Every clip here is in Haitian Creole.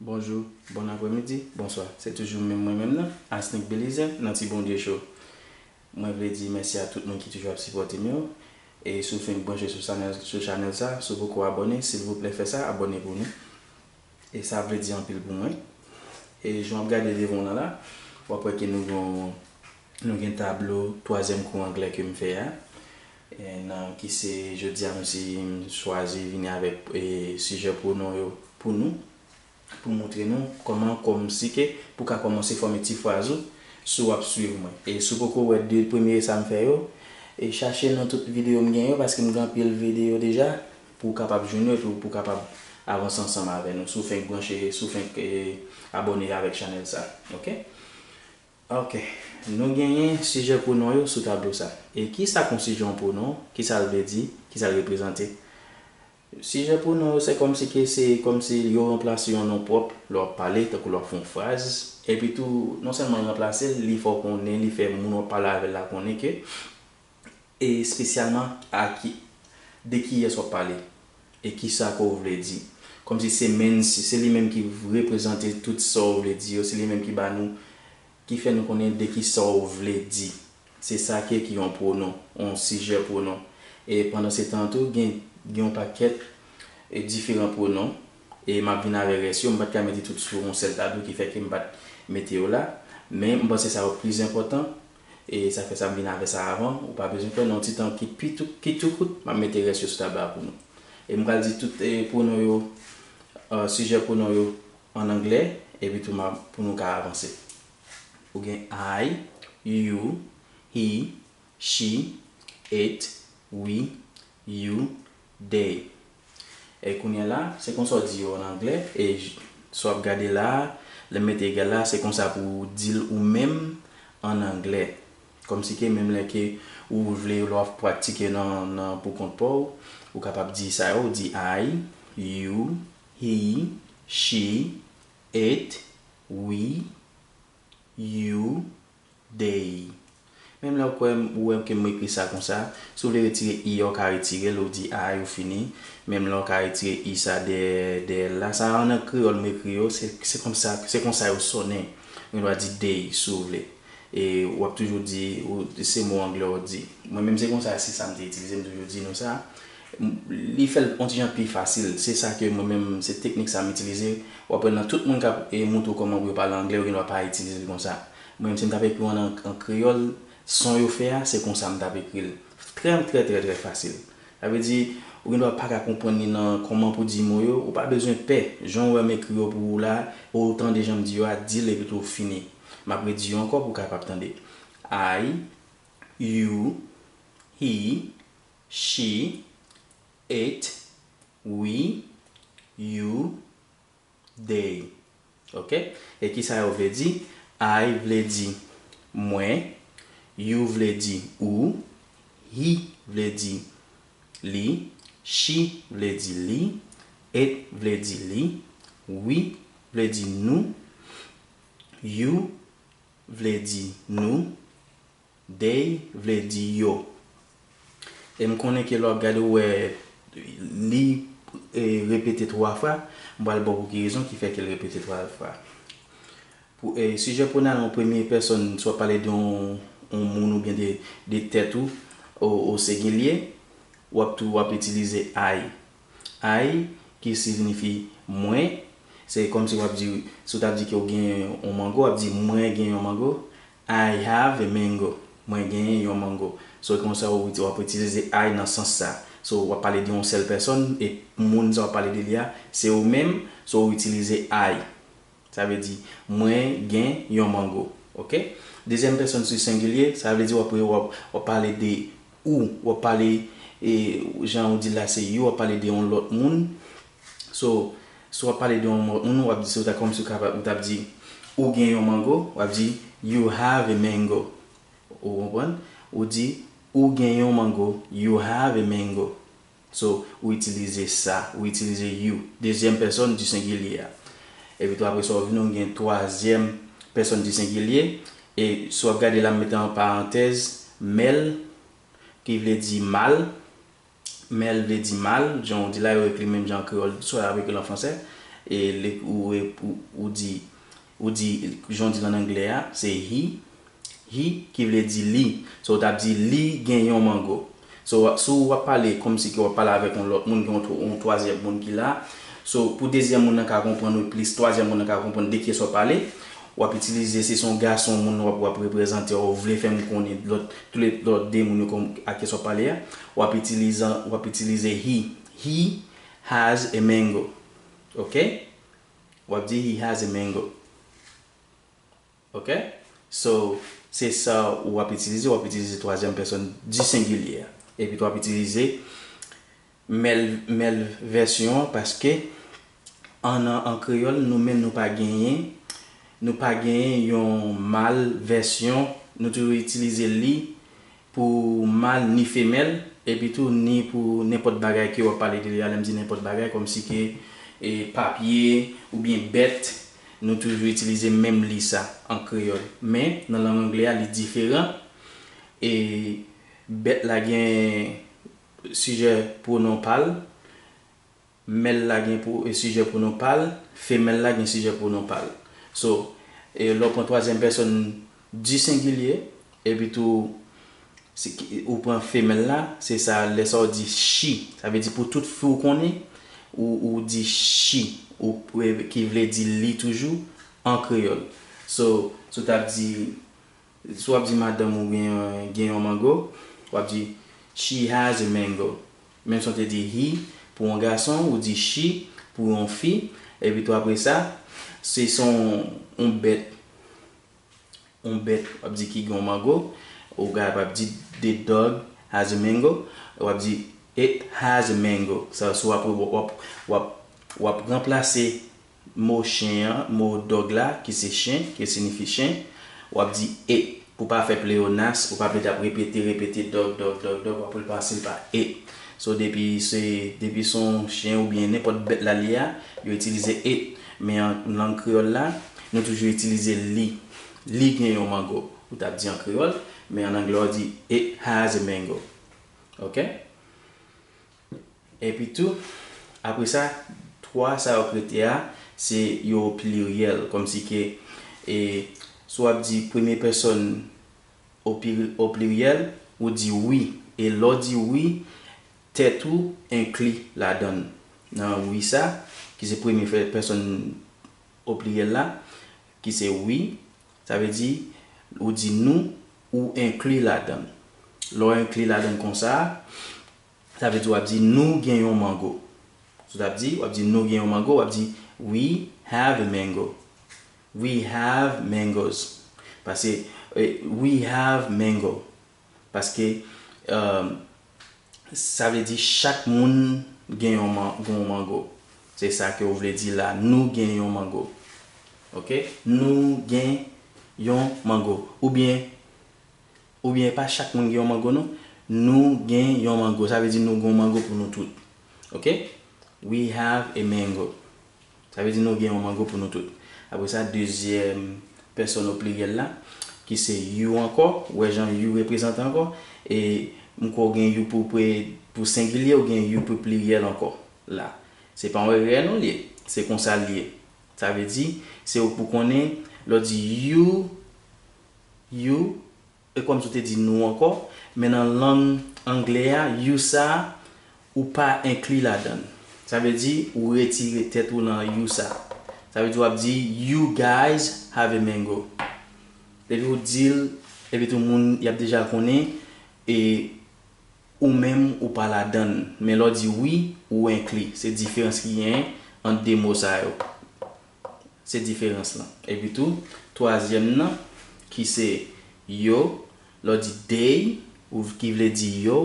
Bonjou, bon apremidi, bonswa. Se toujou menm mwen menm nan, Asnick Belizaire nan Ti Bondye Show. Mwen vle di mèsi a tout moun ki toujou ap sipòte m yo. E si w fenk branche sou sanèl sou chanèl sa, si w poko abòne, silvouplè fè sa, abòne pou nou. E sa ap vle di anpil pou mwen. E jan w ap gade devan w lan la, w ap wè ke nou gen yon nou gen tablo twazyèm kou anglè ke m fè a. nan ki se jodi a msi m chwazi vini avèk sijè pwonon yo pou nou pou montre nou kòman kòmnsike pou ka kòmanse fòme ti fraz ou si w ap swiv mwen e si w poko wè 2 premye sa m fè yo e chache nan tout videyo m gen yo paske m gen anpil videyo deja pou w kapab jwenn yo epi pou w kapab avanse ansanm avè nou si w fenk branche si w fenk abòne avèk chanèl sa ok. Ok. Nou genyen sijè pwonon yo sou tablo sa. E kisa konsije yon pwonon, kisa l vle di, kisa l reprezante? Sijè pwonon yo se kòmsi ke se kòmsi yo ranplase yon non pwòp lè w ap pale, tankou lè w ap fè yon fraz. Epitou, non sèlman l ranplase l, li fè w konnen, li fè moun w ap pale avè l la konnen ke e espesyalman a ki de kiyès wap pale e kisa ke w vle di kòmsi se menn se li menm ki reprezante tout sa w vle di yo se li menm ki ba nou ki fè nou konnen de kisa w vle di se sa ke ki yon pwonon yon sijè pwonon e pandan se tan tou gen yon pakèt e diferan pwonon e map vin avè rès yo m pat ka mete tout sou yon sèl tablo ki fè ke m pat mete yo la men m panse sa yo pi enpòtan E sa fè sa m vin avè sa avan. Ou pa bezwen pè nan yon ti tan ki pi tou, ki tou kout, m ap mete rès yo sou tab la pou nou. E m pral di tout pwonon yo, sijè pwonon yo an anglè, epi tou m ap, pou nou ka avanse. Ou gen I, you, he, she, it, we, You, day. E kounye la, se konsa w di yo an angle, e j, sa w ap gade la a, lè m mete egal la a, se konsa pou ou di l ou menm an angle. Kòmsi ke menm lè ke ou vle lè w ap pratike nan nan poukont pa w, ou kapab di sa yo, ou di I, you, he, she, it, we, you, Day. Menm lè ou kwè m ou wè m ke m ekri sa konsa. Si w vle retire i a ou ka retire l ou di a a yo fini. Menm lè ou ka retire i sa dèyè dèyè l la. Sa a nan kreyòl m ekri yo se se konsa se konsa yo sonnen. Ou gen dwa di day si w vle. E w ap toujou di ou se mo anglè w di. Mwen menm se konsa se sa m te itilize m toujou di nou sa. Li fè l on ti jan pi fasil. Se sa ke mwen menm, se teknik sa m itilize. W ap wè nan tout moun k ap montre w kòman pou yo pale angle, yo gendwa pa itilize l konsa. Mwen menm si m t ap ekri w an an kreyòl, son yo fè a, se konsa m t ap ekri l. Trè trè trè trè fasil. Sa vle di, ou gendwa pa ka konprann li nan kòman pou di mo yo, ou pa bezwen pè. Jan w wè m ekri yo pou ou la a, e w tande jan m di yo a, di l epitou fini. M ap redi yo ankò pou w kapab tande. I, you, he, She, it, we, you, they ok e kisa yo vle di I vle di mwen you vle di ou he vle di li she vle di li it vle di li we vle di nou you vle di nou They vle di yo. E m konnen ke lè w ap gade ou wè li repete twa fwa, m pral ba w pou ki rezon ki fè ke l repete twa fwa. Sijè pwonal an premye pèsòn swa pale de yon moun oubyen de tèt ou o sengilye, w ap tou w ap itilize I. I ki signifi mwen, se kòmsi w ap di, si w t ap di ke w gen yon mango, w ap di mwen gen yon mango. I have a mango, mwen genyen yon mango. So e konsa ou ou ap itilize I nan sans sa. So ou ap pale de yon sèl pèsòn e moun sa ou ap pale de li a se ou menm, so ou itilize I. Sa vle di, mwen gen yon mango. Ok? Dezyèm pèsòn si sengilye, sa vle di ou ap ou ap ou ap pale de ou, ou ap pale e jan ou di l la se you, ou ap pale de yon lòt moun So, si w ap pale de yon moun, w ap di se ta kòmsi ou t ap di ou gen yon mango, w ap di You have a mango. Ou konprann? Ou di ou gen yon mango, You have a mango. So, ou itilize sa, ou itilize you, dezyèm pèsòn di sengilye a. Epi tou apre sa ou vini ou gen twazyèm pèsòn di sengilye. E si w ap gade la m mete an parantèz mèl ki vle di mal. men l vle di mal, jan ou di la yo ekri menm jan an kreyòl swa y ap ekri l an fransè e li ou e ou di ou di jan w di l ann angle a se he he ki vle di li so ou t ap di li gen yon mango so si w ap pale kòmsi ke w ap pale avèk yon lòt moun gen yon twazyèm moun ki la so pou dezyèm moun nan ka konprann ou plis twazyèm moun nan ka konprann de kiyès w ap pale w ap itilize si se yon gason moun w ap w ap reprezante w ou vle fè m konnen lòt Tou le lò de moun yo kon a kes w ap pale a. W ap itilizan, w ap itilize he. He has a mango. Ok? W ap di he has a mango. Ok? So, se sa w ap itilize. W ap itilize twazyèm pèsòn di sengilye a. Epi tou w ap itilize Mèl mèl vèsyon an paske an nan an kreyòl nou menm nou pa genyen nou pa genyen yon mal vèsyon nou toujou itilize li pou mal ni femèl epi tou ni pou nenpòt bagay ke wap pale de li a lèm di nenpòt bagay kòmsi ke e papye oubyen bèt nou toujou itilize menm li sa an kreyòl men nan lang angle a li diferan e bèt la gen Sijè pwonon pa l, Mèl la gen sijè pwonon pa l, femèl la gen sijè pwonon pa l. So, lè w pran twazyèm pèsòn di sengilye, epitou ou pran femèl la, se sa, lè sa w di she, sa vle di pou tout fi w konnen, ou di she, ki vle di li toujou, an kreyòl. So, si w t ap di, Si w ap di madanm ou gen gen yon mango, w ap di She has a mango. Menm si w te di he pou yon gason, ou di she pou yon fi. Epitou apre sa, si se yon bèt, yon bèt w ap di ki gen yon mango, ou ka pa di The dog has a mango. W ap di It has a mango. Sa w ap, w ap ranplase mo chen an, mo dog la, ki se chen, ki sinifi chen, w ap di e. Pou w pa fè pleyonas, pou w pa blid ap repete, repete dog, dog, dog, dog, w ap repanse l pa e. So depi se, depi se yon chen oubyen nenpòt bèt la li a, yo itilize e. Men an lang kreyòl la, nou toujou itilize li. Li gen yon mango. Ou t ap di an kreyòl, men an anglè w di, It has a mango. Ok? Epitou, apre sa, twa sa yo k rete a, se yo o pliryèl, kòmsi ke e si w ap di premye pèsòn o pliryèl, ou di wi, e lè w di wi, tèt ou enkli ladan l, nan wi sa, ki se premye pèsòn o pliryèl la, ki se wi, sa vle di, ou di nou, ou enkli ladan l. Lè w enkli ladan l konsa a, Sa vle di w ap di nou gen yon mango. Sou ta ap di, w ap di nou gen yon mango, w ap di We have a mango. We have mangoes. Pase We have mango. Paske sa vle di chak moun gen yon mango. Se sa ke ou vle di la. Nou gen yon mango. Ok? Nou gen yon mango. Oubyen. Ou byen epa chak moun gen yon mango non nou gen yon mango sa vle di nou gon mango pou nou tout ok we have a mango sa vle di nou gen yon mango pou nou tout apre sa dezyèm pèsòn o pliryèl la ki se you ankò ou wè jan you reprezante ankò e m kwè ou gen you pou pre pou sengilye ou gen you pou pliryèl ankò la se pa yon erè non li ye se konsa li ye sa vle di se ou k pou konnen lè w di you. you e kòm si w te di nou ankò, men nan lang angle a you sa a ou pa enkli ladan l. Sa vle di ou retire tèt ou nan you sa a. Sa vle di w ap di You guys have a mango. Depi w di l, epitou moun y ap deja konnen e ou menm ou pa ladan l. Men lè w di wi, ou enkli. Se diferans ki genyen ant de mo sa yo. Se diferans lan. Epi tou, twazyèm nan, ki se yo, lè w di they, ou ki vle di yo,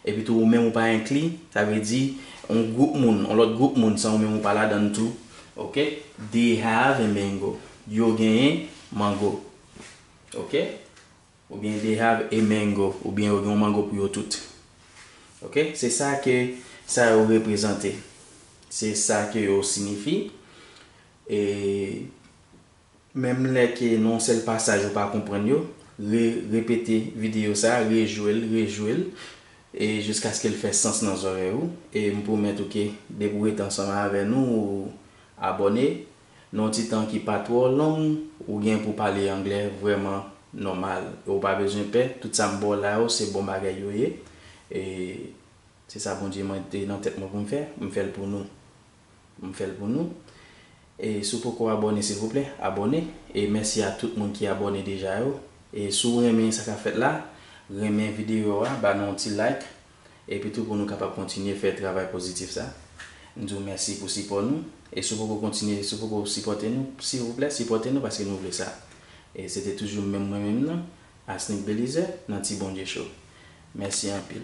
epi tou ou menm ou pa enkli, sa vle di yon gwoup moun, yon lòt gwoup moun san ou menm ou pa ladan l tou. Ok? They have a mango. Yo genyen mango. Ok? Ou byen they have a mango ou byen yo gen yon mango pou yo tout ok se sa ke sa yo reprezante se sa ke yo sinifi e menm lè ke nan yon sèl pasaj ou pa konprann yo re repete videyo sa rejwe l rejwe l e jiskaske l fè sans nan zòrèy ou e m pwomèt ou ke depi w rete ansanm avè nou ou abòne Nan yon ti tan ki pa twò long, ou gen pou pale anglè vrèman nòmal. E ou pa bezwen pè, tout sa m ba w la yo se bon bagay yo ye. E se sa Bondye mete nan tèt mwen pou m fè, m fè l pou nou. M fè l pou nou. E si w poko abòne silvouplè, abòne. E mèsi a tout moun ki abòne deja yo. E si w renmen sa k ap fèt la, renmen videyo a, ba nou yon ti like. epi tou pou nou kapab kontinye fè travay pozitif sa. M di w mèsi pou sipò nou e si w poko kontinye, si w poko sipòte nou, silvouplè sipòte nou paske nou vle sa. E se te toujou menm mwen menm nan, Asnick Belizaire, nan Ti Bondye Show. Mèsi anpil.